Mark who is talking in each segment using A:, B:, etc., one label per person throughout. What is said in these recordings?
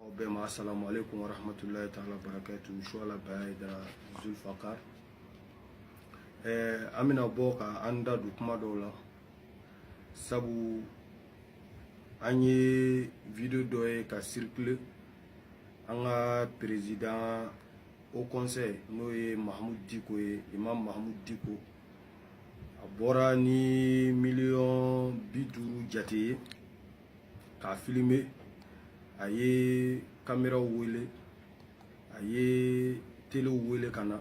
A: aw bɛɛ ma asalamu aleykum wa rahmatulahi taala barakatu suwala bayaya hayidara zulfakar ɛɛ an bɛna bɔ ka an da don kuma dɔ la sabu an ye video dɔ ye ka circuler an ka président haut conseil n'o ye mahamud diko ye imam mahamud diko a bɔra ni miliyɔn bi duuru jate ye k'a filime a ye kameraw wele a ye telew wele ka na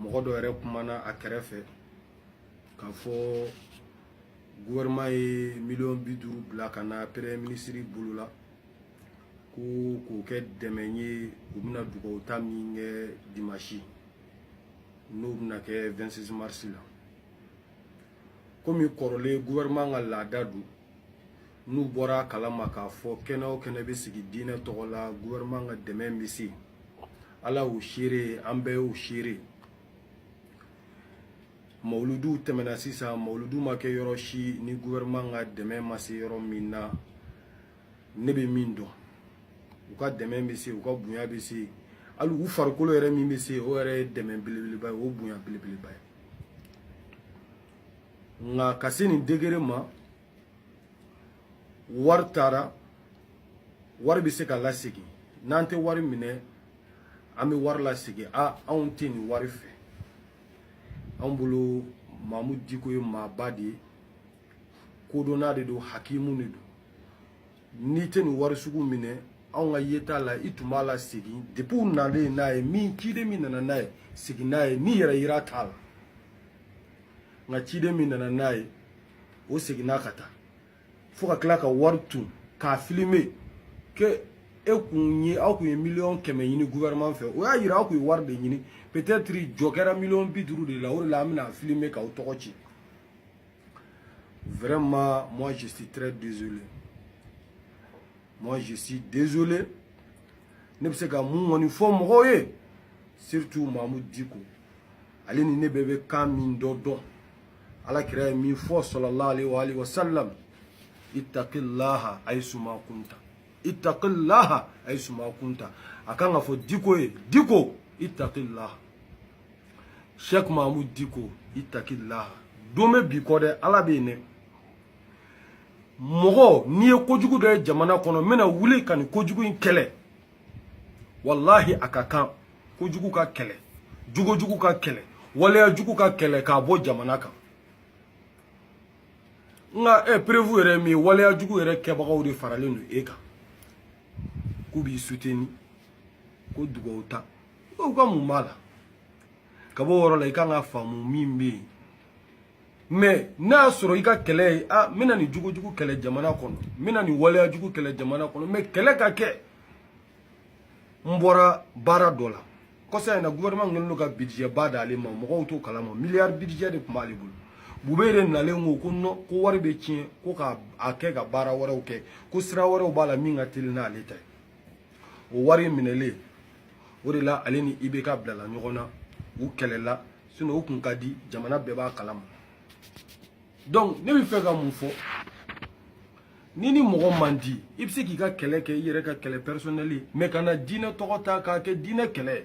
A: mɔgɔ dɔ yɛrɛ kumana a kɛrɛfɛ k'a fɔ gouvernement ye miliyɔn bi duuru bila ka na premier minisiri bolo la ko k'o kɛ dɛmɛ ye u bɛna dugawu ta min kɛ dimasi n'o bɛna kɛ 26 mars la komi kɔrɔlen gouvernement ka laada don n'u bɔra a kalama k'a fɔ kɛnɛ o kɛnɛ bɛ sigi diinɛ tɔgɔ la gouvernement ka dɛmɛ bɛ se ala y'o seere an bɛɛ y'o seere mawuluduw tɛmɛna sisan mawuludu ma kɛ yɔrɔ si ni gouvernement ka dɛmɛ ma se yɔrɔ min na ne bɛ min dɔn u ka dɛmɛ bɛ se u ka bonya bɛ se hali u farikolo yɛrɛ min bɛ se o yɛrɛ ye dɛmɛ belebeleba ye o bonya belebeleba ye nka ka se nin degré ma wari taara wari bɛ se ka lasegin n'an tɛ wari minɛ an bɛ wari lasegin a anw tɛ nin wari fɛ anw bolo mamu diko ye maaba de ye kodɔnna de don hakimu de don n'i tɛ nin wari sugu minɛ anw ka yeta la i tun b'a lasegin depuis u nalen n'a ye min ciden min nana n'a ye segin n'a ye nin yɛrɛyira t'a la nka ciden min nana n'a ye o seginna ka taa fo ka tila ka wari ton k'a filime que e kun ye aw kun ye miliyɔn kɛmɛ ɲini gouvernement fɛ o y'a yira aw kun ye wari de ɲini peut-être jɔ kɛra miliyɔn bi duuru de la o de la an bɛna filime k'aw tɔgɔ ci Vraiment, moi je suis très désolé. Moi je suis désolé. Ne bɛ se ka mun kɔni fɔ mɔgɔw ye surtout Mamu Diko. Ale ni ne bɛɛ bɛ kan min dɔ dɔn. Ala kira ye min fɔ sallallahu alaihi wa alihi wa sallam. Ittaqillaha aisuma kunta. Ittaqillaha aisuma kunta. A kan ka fɔ Diko ye. Diko ittaqillaha. Cheikh Mahmoud Diko ittaqillaha don bɛ bi kɔ dɛ ala bɛ yen dɛ mɔgɔ n'i ye kojugu dɔ ye jamana kɔnɔ n bɛna wuli ka nin kojugu in kɛlɛ walahi a ka kan kojugu ka kɛlɛ jogojugu ka kɛlɛ waleya jugu ka kɛlɛ k'a bɔ jamana kan nka e perewu yɛrɛ min ye waleya jugu yɛrɛ kɛbagaw de faralen don e kan k'u b'i suteni ko dugawu ta u ka mun b'a la ka b'o yɔrɔ la i kan ka faamu min bɛ yen mɛ n'a y'a sɔrɔ i ka kɛlɛ ye a n bɛna nin jogojugu kɛlɛ jamana kɔnɔ n bɛna nin waleya jugu kɛlɛ jamana kɔnɔ mɛ kɛlɛ ka kɛ n bɔra baara dɔ la kɔsa in na gouvernement kɛlen don ka budget ba d'ale ma mɔgɔw t'o kalama miliyari budget de tun b'ale bolo Boubeye nalen ko ko nɔn ko wari bɛ tiɲɛ ko ka a kɛ ka baara wɛrɛw kɛ ko sira wɛrɛw b'a la min ka teli n'ale ta ye o wari minɛlen o de la ale ni ibk bilala ɲɔgɔn na u kɛlɛla sinɔn u kun ka di jamana bɛɛ b'a kalama donc ne bɛ fɛ ka mun fɔ ni ni mɔgɔ man di i bɛ se k'i ka kɛlɛ kɛ i yɛrɛ ka kɛlɛ pɛrisɔnɛli mɛ kana diinɛ tɔgɔ ta k'a kɛ diinɛ kɛlɛ ye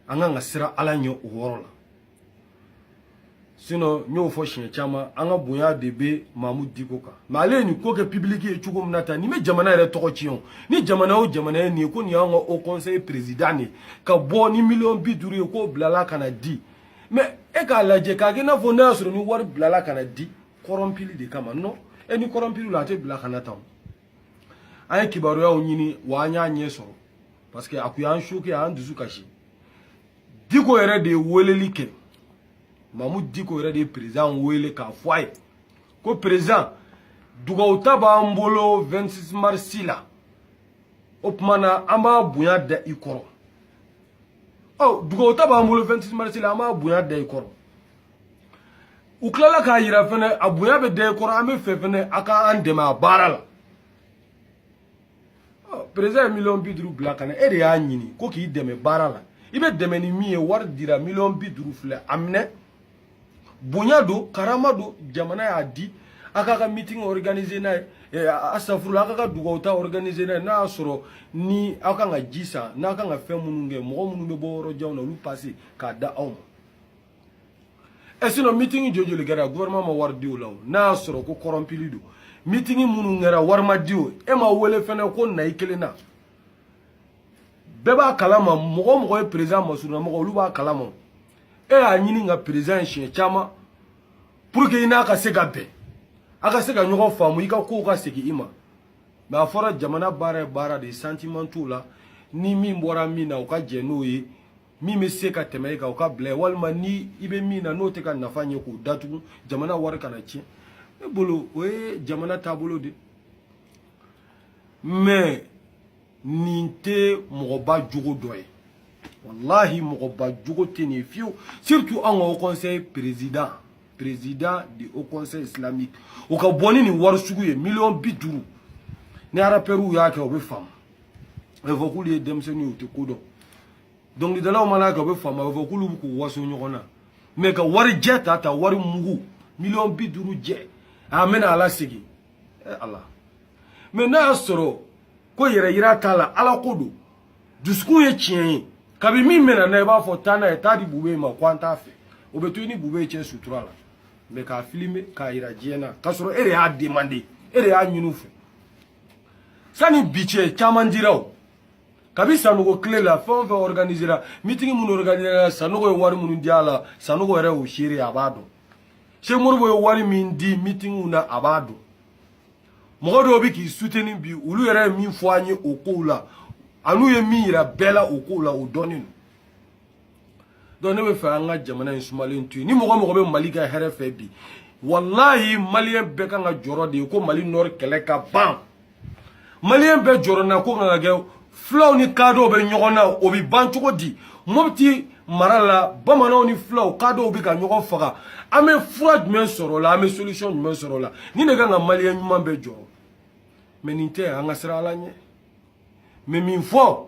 A: an kan ka siran ala ɲɛ o yɔrɔ la sinɔn n y'o fɔ siɲɛ caman an ka bonya de bɛ Mahmoud Diko kan mɛ ale ye nin ko kɛ pibiliki ye cogo min na tan nin bɛ jamana yɛrɛ tɔgɔ tiɲɛ o ni jamana o jamana ye nin ye ko nin y'an ka haut conseil président de ka bɔ ni miliyɔn bi duuru ye k'o bilala ka na di mɛ e k'a lajɛ k'a kɛ i n'a fɔ n'a y'a sɔrɔ ni wari bilala ka na di kɔrɔnpili de kama nɔn e ni kɔrɔnpili la a tɛ bila ka na tan an ye kibaruyaw ɲini wa an y'a ɲɛ sɔrɔ parce que a kun y'an soke a y'an dusu kasi diko yɛrɛ de ye weleli kɛ Mahmoud Diko yɛrɛ de ye perezan wele k'a fɔ a ye ko perezan dugawu ta b'an bolo 26 marisi la o tuma na an b'a bonya da i kɔrɔ ɔ dugawu ta b'an bolo 26 marisi la an b'a bonya da i kɔrɔ u tilala k'a yira fɛnɛ a bonya bɛ da i kɔrɔ an bɛ fɛ fɛnɛ a ka an dɛmɛ a baara la perezan ye miliyɔn bi duuru bila ka na e de y'a ɲini ko k'i dɛmɛ baara la i bɛ dɛmɛ ni min ye wari dira miliyɔn bi duuru filɛ a minɛ bonya don karama don jamana y'a di a k'a ka meeting organiser n'a ye eh, astafurula a k'a ka dugawu ta organiser n'a ye n'a y'a sɔrɔ ni aw kan ka ji san n'a kan ka fɛn minnu kɛ mɔgɔ minnu bɛ bɔ yɔrɔ janw na olu passe k'a d'aw ma e sinɔn meeting joli kɛra gouvernement ma wari di o la o n'a y'a sɔrɔ ko kɔrɔnpili don meeting minnu kɛra wari ma di o e ma wele fɛnɛ ko na i kelen na bɛɛ b'a kalama mɔgɔ o mɔgɔ ye perezan masurunamɔgɔ olu b'a kalama e y'a ɲini ka perezan ye siɲɛ caman pour que i n'a ka se ka bɛn a ka se ka ɲɔgɔn faamu i ka kow ka segin i ma mɛ a fɔra jamana baara ye baara de ye santiman t'o la ni min bɔra min na o ka jɛ n'o ye min bɛ se ka tɛmɛ e kan o ka bila walima ni i bɛ min na n'o tɛ ka nafa ɲɛ k'o datugu jamana wari kana tiɲɛ ne bolo o ye jamana taabolo de mais nin tɛ mɔgɔba jogo dɔ ye walahi mɔgɔba jogo tɛ nin ye fiyewu surtout an ka haut conseil président président du haut conseil islamique o ka bɔ ni nin wari sugu ye miliyɔn bi duuru ni arapɛriw y'a kɛ o bɛ faamu a bɛ fɔ k'olu ye denmisɛnninw ye u tɛ ko dɔn dɔnkilidalaw mana kɛ o bɛ faamu a bɛ fɔ k'olu bɛ k'u waso ɲɔgɔn na mais ka wari jɛ ta ta wari mugu miliyɔn bi duuru jɛ a mɛna a lasegin ɛ ala mais n'a y'a sɔrɔ ko yɛrɛ yira t'a la ala ko don dusukun ye tiɲɛ ye kabi min mɛna na i b'a fɔ taa n'a ye taa di bube ma ko an t'a fɛ o bɛ to i ni bube cɛ sutura la mais k'a filime k'a yira diɲɛ na k'a sɔrɔ e de y'a demander e de y'a ɲini u fɛ sani bi cɛ caman dira o kabi sanogo kile la fɛn o fɛn organisera meeting minnu organisera sanogo ye wari minnu di a la sanogo yɛrɛ y'o seere a b'a dɔn cheick modibo ye wari min di meetingw na a b'a dɔn mɔgɔ dɔw bɛ k'i suteni bi olu yɛrɛ ye min fɔ an ye o kow la an'u ye min yira bɛɛ la o kow la o dɔnnen don donc ne bɛ fɛ an ka jamana in sumalen to yen ni mɔgɔ mɔgɔ bɛ mali ka hɛrɛ fɛ bi walahi maliyɛn bɛɛ kan ka jɔrɔ de ye ko mali nord kɛlɛ ka ban maliyɛn bɛɛ jɔrɔnako kan ka kɛ fulaw ni kadɔw bɛ ɲɔgɔn na o bɛ ban cogo di mɔpiti mara la bamananw ni fulaw kadɔw bɛ ka ɲɔgɔn faga an bɛ fura jumɛn sɔrɔ o la an bɛ solution jumɛn sɔrɔ o la nin de kan ka maliyɛn ɲuman bɛɛ jɔrɔ mais nin tɛ an ka siran ala ɲɛ mais min fɔ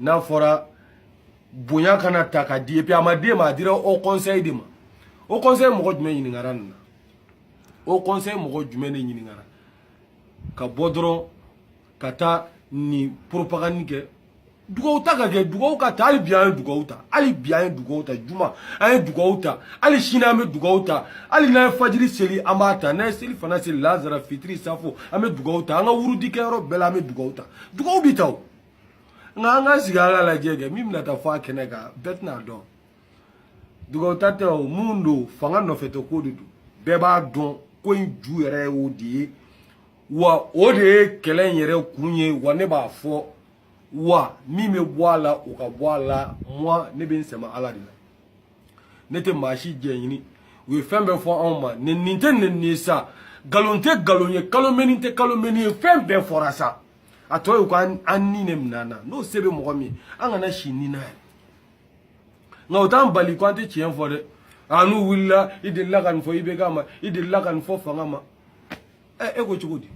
A: n'a fɔra bonya kana ta ka di et puis a ma d'e ma a dira haut conseil de ma haut conseil mɔgɔ jumɛn ɲininkara nin na haut conseil mɔgɔ jumɛn de ɲininkara ka bɔ dɔrɔn ka taa nin propagande kɛ dugawu ta ka kɛ dugawu ka ta hali bi an ye dugawu ta hali bi an ye dugawu ta juma an ye dugawu ta hali sini an bɛ dugawu ta hali n'an ye fajiri seli an b'a ta n'an ye selifana seli lazara fitiri safo an bɛ dugawu ta an ka wurudi kɛyɔrɔ bɛɛ la an bɛ dugawu ta dugawu bɛ ta o nka an ka sigi an ka lajɛ kɛ min bɛna taa fɔ a kɛnɛ kan bɛɛ tɛn'a dɔn dugawuta tɛ o mun don fanga nɔfɛ tɛ ko de don bɛɛ b'a dɔn ko in ju yɛrɛ ye o de ye wa o de ye kɛlɛ in yɛrɛ kun ye wa ne b'a fɔ wa min bɛ bɔ a la o ka bɔ a la moi ne bɛ n sɛmɛ ala de la ne tɛ maa si jɛ ɲini u ye fɛn bɛɛ fɔ anw ma nɛni tɛ nɛni ye sa nkalon tɛ nkalon ye calomnie tɛ calomnie ye fɛn bɛɛ fɔra sa a tɔ ye ko an ni ne minɛ na n'o se bɛ mɔgɔ min an kana si ni na ye nka o t'an bali ko an tɛ tiɲɛ fɔ dɛ a n'u wulila i delila ka nin fɔ IBK ma i delila ka nin fɔ fanga ma ɛ e ko cogo di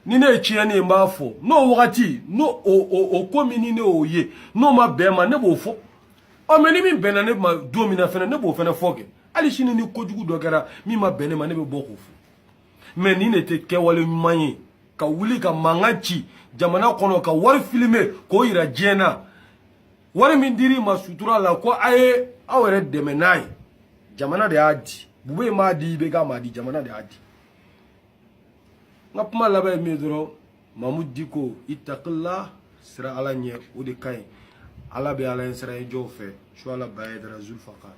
A: ni ne ye tiɲɛni ye n b'a fɔ n'o wagati n'o o o o ko min ni ne y'o ye n'o ma bɛn n ma ne b'o fɔ ɔ mais ni min bɛnna ne ma don min na fɛnɛ ne b'o fɛnɛ fɔ kɛ hali sini ni kojugu dɔ kɛra min ma bɛn ne ma ne bɛ bɔ k'o fɔ mais nin de tɛ kɛwale ɲuman ye ka wuli ka mankan ci jamana kɔnɔ ka wari filmer k'o yira diɲɛ na wari min dir'i ma sutura la ko a ye aw yɛrɛ dɛmɛ n'a ye jamana de y'a di bube m'a di IBK m'a di jamana de y'a di n ka kuma laban ye min ye dɔrɔn mamudu diko ittaqillah siran ala ɲɛ o de ka ɲi ala bɛ ala ɲɛ siranɲɛ jɔnw fɛ suwala bayaya hayidara zulfakar